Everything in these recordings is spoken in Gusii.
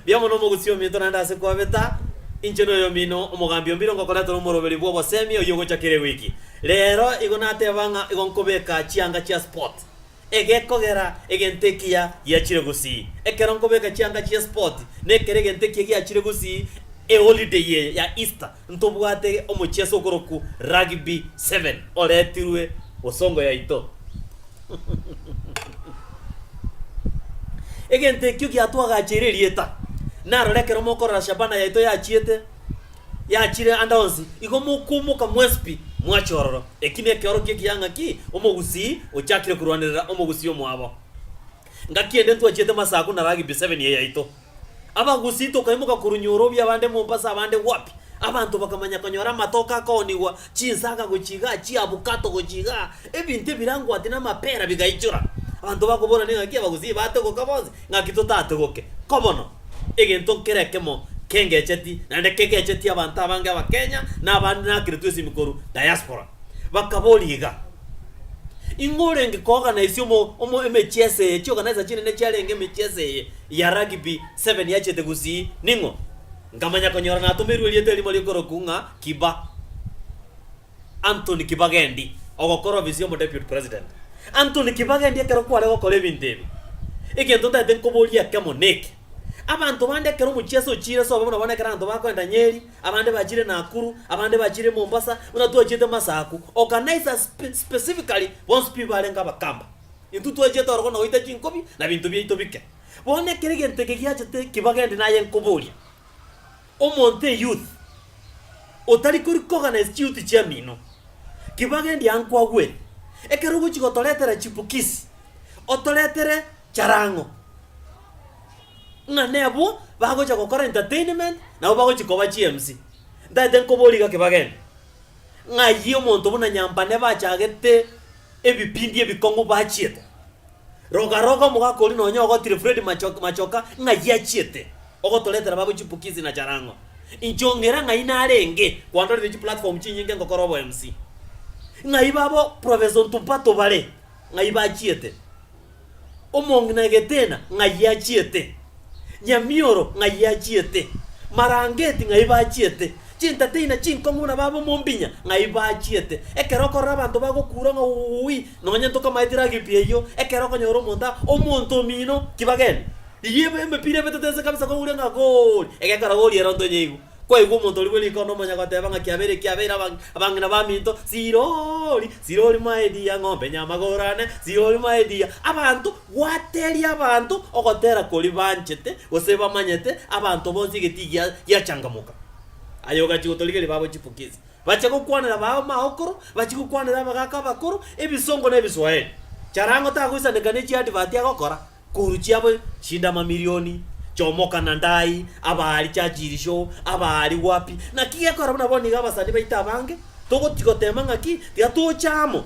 Mbuya mono omogusii ominto naende ase kwabeta, inche noyomino omogambi o mbiro ngokoretwa nomoroberi bw'obosemi oyio ogocha kera ewiki. Rero igo nateba ng'a igo nkobeka chianga chia spot. Egekogera egento ekiya giachire gusii. Ekero nkobeka chianga chia spot, nekero egento ekiya giachire gusii eholiday eye ya Easter. Ntobwate omocheso okorokwu rugby seven oretirwe bosongo yaito. Egento ekio giatwagacheire erieta. Narora ekero mokorora Shabana yaito yachiete, yachire ande onsi, igo mokumoka mwensi pi, mwache ororo. Eki nekeoro gie kiang'aki, Omogusii ochakire korwanerera Omogusii omwabo. Ngaki ende ntwachiete masaku na rugby seven eye yaito. Abagusii tokaimoka korunywa orobio abande mompo ase abande gwapi, abanto bakamanya konyora amatoke akoonigwa, chinsaga gochia igaa, chiabukato gochia igaa, ebinto ebirangwati na amapera bigaichora. Abanto bakoborana ing'aki abagusii baategoka bonsi, ng'aki totategoke. Kobono, egento nkere ekemo kengecheti naende kegecheti abanto abange Abakenya na abande nakiretwe esimi korwa diaspora. Bakaboria iga, Ing'o orenge kooganaisia omo, omo, emechie ase eye, chioganaisa chinene chiarenge emechie ase eye? ya Rugby Seven yachete gusii, ning'o? Nkamanya konyora natomeirwe erieta erimo ri'okorokwa ng'a Kiba, Anthony Kibagendi, ogokora ofisi y'omo Deputy President. Anthony Kibagendi ekero kware gokora ebinto ebi, egento ntaete nkoborie ekemo neke, Abanto bande ekero omochie ase ochiire sobe buna bono ekero abanto bakoenda Nyeri, abande bachire Nakuru, abande bachire Mombasa, buna twachiete Masaku, organise us specifically bonsi pi barenge Abakamba. Intwe twachete oro bono goita chinkobi, na binto biaito bike. Bono ekero egento eke giachete kibaga endi naye nkoboria, Omonto eyouth, otari kori koorganize chiyouth chiamino, kibaga endi ankwagwere, ekero ogochi gotoretera chipukisi, otoretere charang'o, ng'a nebo bagocha gokora entertainment, nabo bagochi koba chiMC. Ntagete nkoborie iga kibaga endi, Ng'ai omonto buna Nyampane bachagete ebipindi ebikong'u bachiete? Roga roga omogaka oria nonya ogotire Fred Machoka Machoka ng'ai achiete ogotoretera babo chipukisi na charang'o. Inche ong'ira ng'ai narenge kwandoreire chiplatform chinyinge ngokora obo MC. Ng'ai babo Professor Ntupato bare ng'ai bachiete? Omong'ina egetena ng'ai achiete, nyamioro ng'ai achiete, marangeti ng'ai bachiete, chintatei na chinkong'u buna bab'omombinya ng'ai bachiete. Ekero okorora abanto bagokuura ng'a Uui, nonya ntokamaetire Agipia eyio, ekero okonyora omonto aa, omonto omino, kibageni. Eyio ebe emepira ebetete ense kabisa koguria ng'a Gooli, egekora gooli ere onto onye igo. Kwaigwa omontori bwe riko nomonya goteba ng'a kiabeire kiabeire abang'ina baminto, Sirori, sirori mwaediia ng'ombe nyamagoro ane, sirori mwaediia abanto, gwateria abanto ogotera kori banchete gose bamanyete abanto bonsi egetii gia giachangamoka. Aye ogachia gotorigeria babo chipokisi, bachia gokwanera babo maokoro, bachia gokwanera abagaka abakoro, ebisongo na ebiswaheri. Charango tagoisaneka ne chiadvert agokora, Koru chiabo chindamamirioni chomoka na ndai, abaari chachirisho, abaari gwapi. Naki gekora buna bono iga abasani baito abange, togoti gotema ng'aki tiga tocha amo.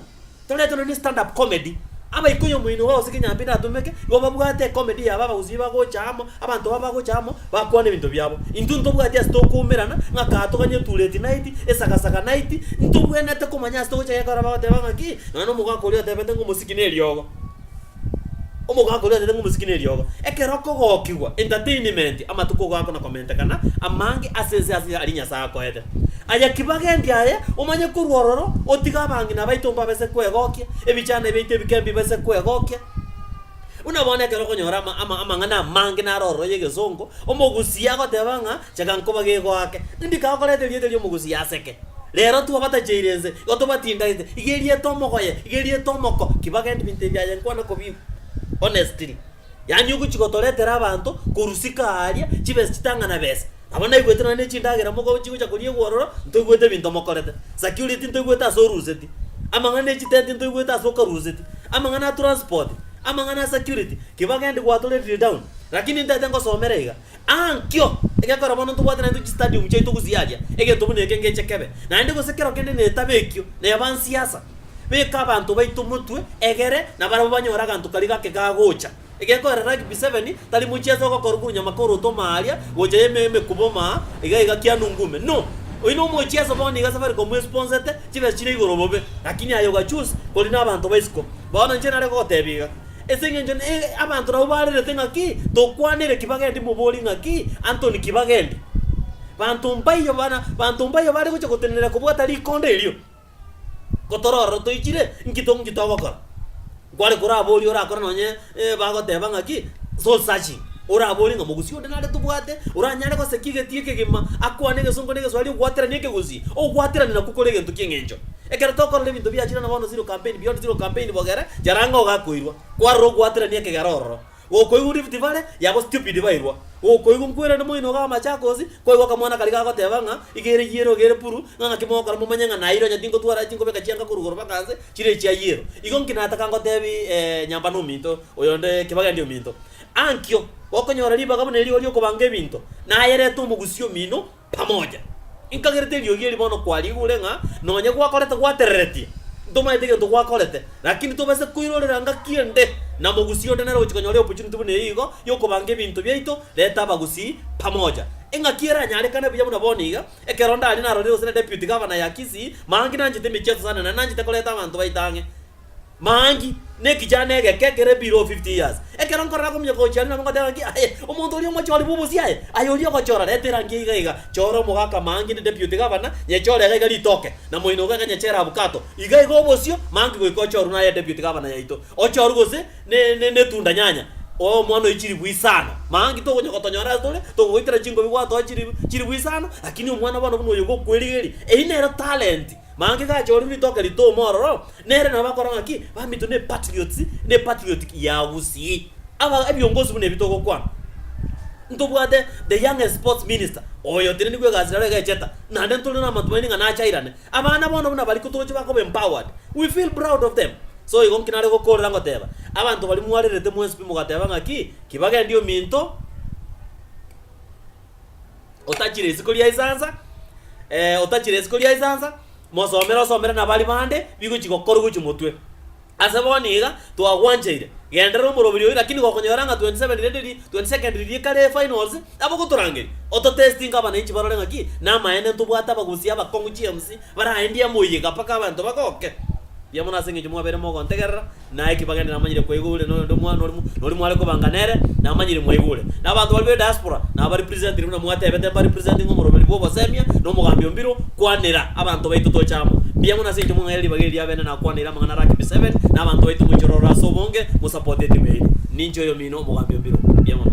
Toretwe nonya ne stand up comedy, abaikoi omoino iga gose kinyambi natomeke, igo babwate ecomedy yabo abagusii bagocha amo, abanto babo bagocha amo, bakwane ebinto biabo. Intwe ntobwati ase tokoumerana, ng'aka aa toganye tuleti night, esagasaga night, ntobwenete komanya ase togocha gekora bagoteba ng'aki, nonya na omogaka oria otebete ng'omosiki neriogo. Omogaaka oria acharenge omosike ne riogo. Ekero okogokigwa, entertainment, amatuko gako na komentekana amange ase ense ase aria Nyasae akoete. Aye ki bagendi aye, omanye korwa ororo, otige abang'ina baito mbabe ase kwegokia, ebichana biaito ebike mbibe ase kwegokia. Buna bono ekero okonyora ama, ama, amang'ana amange naro ororo y'egesongo, omogusi agoteba ng'a Chaka nkoba gegoake, ndika okoreta erieta ri'omogusi yaseke. Rero tu abatacheire ense, igo tobatindaete, iga erieta omogoye, iga erieta omoko, ki bagende binto ebi aye nkwana kobigwa. Honestly. Yaani ogochi gotoretera abanto korwa siko aaria, chibesa chitang'ana besa. Nabo naigwete nonya ne chindagera mogobe chigocha koriegwa ororo, ntoigwete ebinto mokorete. Security ntoigwete ase oruseti. Amang'ana e chitenti ntoigwete ase okaruseti. Amang'ana a transport, amang'ana a security, ki bagende gwatorerire down. Lakini ntaete ngosomera iga, Aa nkio, egekora bono ntobwate naintwe chistadium chiaito gosiaria egento buna eke ngeche kebe, naende gose kero kende netabekio nebansiasa. Beka abanto baito motwe egere na barabwo banyore aganto karia gake gagocha. Egekoera rugby seven tari mochiaso ogokorwa korwa nyamaka ore otoma aria gocha ime emekuba oma iga iga kianu ngume no. Oyi nomochiaso bono iga safaricom esponsete chibesa chire igoro bobe lakini aye oga choose kori nabanto baisiko. Bono inche nare gogotebia iga. Ase engencho ne abanto nabo barerete ng'aki tokwanere ki bagende moborie ng'aki Antony ki bagende. Banto mbaiyo bana banto mbaiyo bare gocha gotenenera kobwata rikonda erio. Gotororero toichire nki to nki togokora. Nkware koraborie orakore nonye bagoteba ng'aki soul searching oraborie ng'a mogusii onde nare tobwate oranyare goseki egeti ekegima akwane egesongo na egeswahili ogwateranie ekegusii. Ogwaterani nakwo kore egento ki'engencho. Ekero tokorora ebinto biachire na bono Zero Campaign, Beyond Zero Campaign bogere, Jarango iga akoirwa. Kwarora ogwaterania ekegera ororo. Gokoigwa Rift Valley, yabo stupid bairwa. Gokoigwa nkwerende moino iga Machakos, kwaigwa akamwana karia gagoteba ng'a iga ere yiere iga ere puru, ng'a ng'aki mogokora momanye ng'a naire onye tingotwara chingobeka chianga korwa igoro baka nse, chire echia yero. Igo nki nataka ngotebi eh nyamba na ominto oyonde kebagende ominto. Ankio, gokonyora ribaga buna erio ri'okobanga ebinto, nayerete omogusii omino, pamoja. Nkagerete eriogi eri bono kwariigure ng'a nonye gwakorete gwatereretie, ntomaete egento gwakorete, rakini tobase koirorera ngaki ende na mogusii onde nere ogochia konyora eopportunity buna eye igo y'okobanga ebinto biaito. Reta abagusii pamoja. Eng'aki eranyarekane buya buna bono iga, ekero ndaria narorire gose na Deputy Governor ya Kisii, Mangi nanchete emechie ya Tsanane, nanchete koreta abanto baito ang'e. Mangi, nekichano egeke ekere below fifty years, ekero nkorora komuya kochia aria nabo ngoteba ng'aki, Aye, omonto oria omochori bw'obosie aye, aye oria ogochora, reta erangi iga iga, chora omogaka mangi inde deputy gavana, nyechore iga iga ritoke, na moinoko iga nyechere abukato, iga iga obosio, mangi goika ochorwe naye deputy gavana yaito, ochorwe gose ne ne netunda nyanya, oe omwana oye chilifu isano, mangi tokonya gotonyora ase tore, tokogoitera chingobi gwatoa chilifu chilifu isano, lakini omwana bono buna oyo ogokwerigeria, eyio nero talent. Maanki gachorire ritoke ritomo ororo, nere nabakora ng'a ki? Bamitwe ne patriots, ne patriotic ya Gusii. Aba ebiongozi buna ebi togokwana, ntobwate the youngest sports minister oyotenenigwe egasi rero egecheta, naende ntore namatumaini ng'a nachairane. Abana bono buna baria toche bakoba empowered, we feel proud of them. So igo nki nare gokoorera ngoteba, abanto baria mwarerete mwensipi mogateba ng'a ki? Ki bagendie ominto? otachire isiko ria esansa, eh, otachire isiko ria esansa, mosomere osomere nabari bande, bigochi gokorwa gochia motwe. Ase bono iga, twagwanchaire, genderera omoroberi oyi lakini gokonyora ng'a 27 rende ri 22nd riria ekare efinals, nabo gotorangeria, ototestinge abananchi barore ng'aki namaene ntobwate abagusia abakong'u chiemsi, baraendie moyega mpaka abanto bagoke. Mbuya mono ase eng'encho mwabeire mogontegerera, Naye Kibageni namanyire kwaigure na oyonde omwana orimo nori mware kobanga nere namanyire mwaigure. Na abanto baria be diaspora naba ba representinire buna mwatebete mba representinge omoroberi bwa obosemia na omogambi o mbiro kwanera abanto baito toche amo. Mbuya mono ase encho mwang'aire ribaga eri abene nakwaneire amang'ana ara Kibi Seven na abanto baito moichore ororo ase obonge mo support etimu yaino. Ninche oyomino omogambi o mbiro. Mbuya mono.